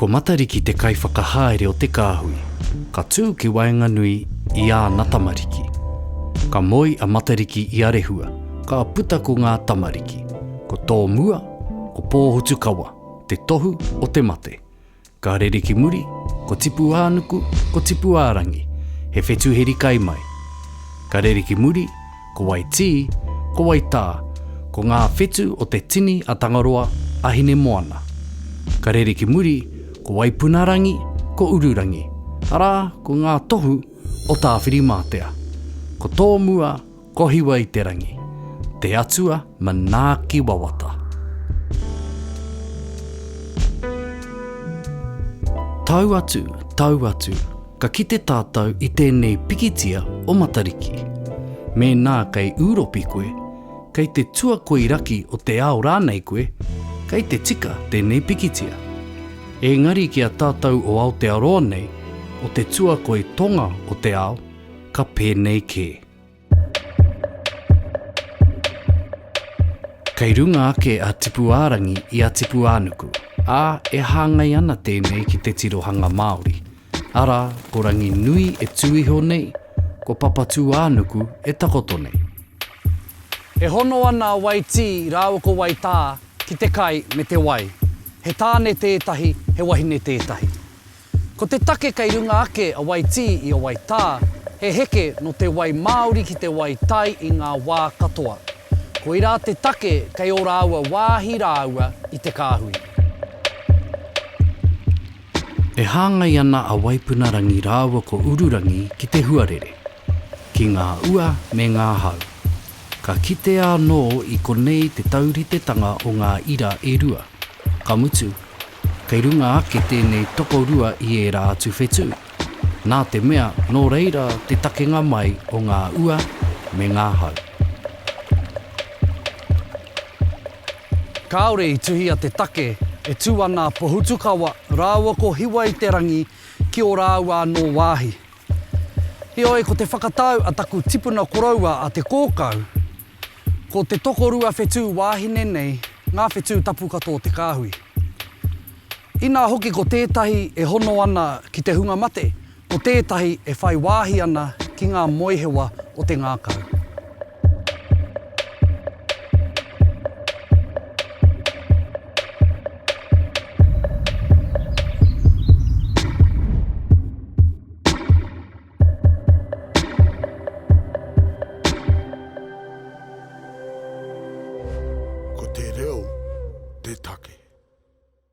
Ko Matariki te kaiwhakahaere o te kāhui, ka tū ki waenganui i āna tamariki. Ka moe a Matariki i a Rehua, ka puta ko ngā tamariki, ko tō mua, ko Pōhutukawa, te tohu o te mate. Ka rere ki muri, ko Tipuānuku, ko Tipuārangi, he whetu heri kai mai. Ka rere ki muri, ko Waitī, ko Waitā, ko ngā whetu o te tini a Tangaroa, a Hinemoana. Ka rere ki muri, ko Waipunarangi, ko Ururangi, arā, ko ngā tohu o Tāwhirimātea. Ko tōmua, Kohiwa i te rangi. Te Atua manaaki wawata. Tau atu, tau atu, ka kite tātou i tēnei pikitia o Matariki. Mēnā kei Ūropi koe, kei te tuakoi raki o te ao rānei koe, kei te tika tēnei pikitia. Ēngari ki a tātou o Aotearoa nei, o te tuakoi tonga o te ao, ka pēnei kē. Kei runga ake a Tipuārangi i a Tipuānuku, ā, e hāngai ana tēnei ki te tirohanga Māori, arā, ko Ranginui e tū iho nei, ko Papatūānuku e takoto nei. E hono ana a Waitī rāua ko Waitā ki te kai me te wai. He tāne tētahi, he wahine tētahi. Ko te take kei runga ake a Waitī i a Waitā, he heke nō te wai māori ki te wai tai i ngā wā katoa. Koirā te take kei ō rāua wāhi rāua i te kāhui. E hāngai ana a Waipuna Rangi rāua ko Ururangi ki te huarere. ki ngā ua me ngā hau. Ka kitea anō i konei te tauritetanga o ngā ira e rua, ka mutu, kei runga ake tēnei tokorua i ērā atu whetū, nā te mea nō reira te takenga mai o ngā ua me ngā hau. Kāore i tuhia te take e tū ana a Pohutukawa rāua ko Hiwa-i-te-rangi ki ō rāua anō wāhi, Heoi, ko te whakatau a taku tipuna koroua a Te Kōkau, ko te tokorua whetū wāhine nei ngā whetū tapu katoa o te kāhui. Inā hoki ko tētahi e hono ana ki te hunga mate, ko tētahi e whai wāhi ana ki ngā moehewa o te ngākau. Ko te reo te take.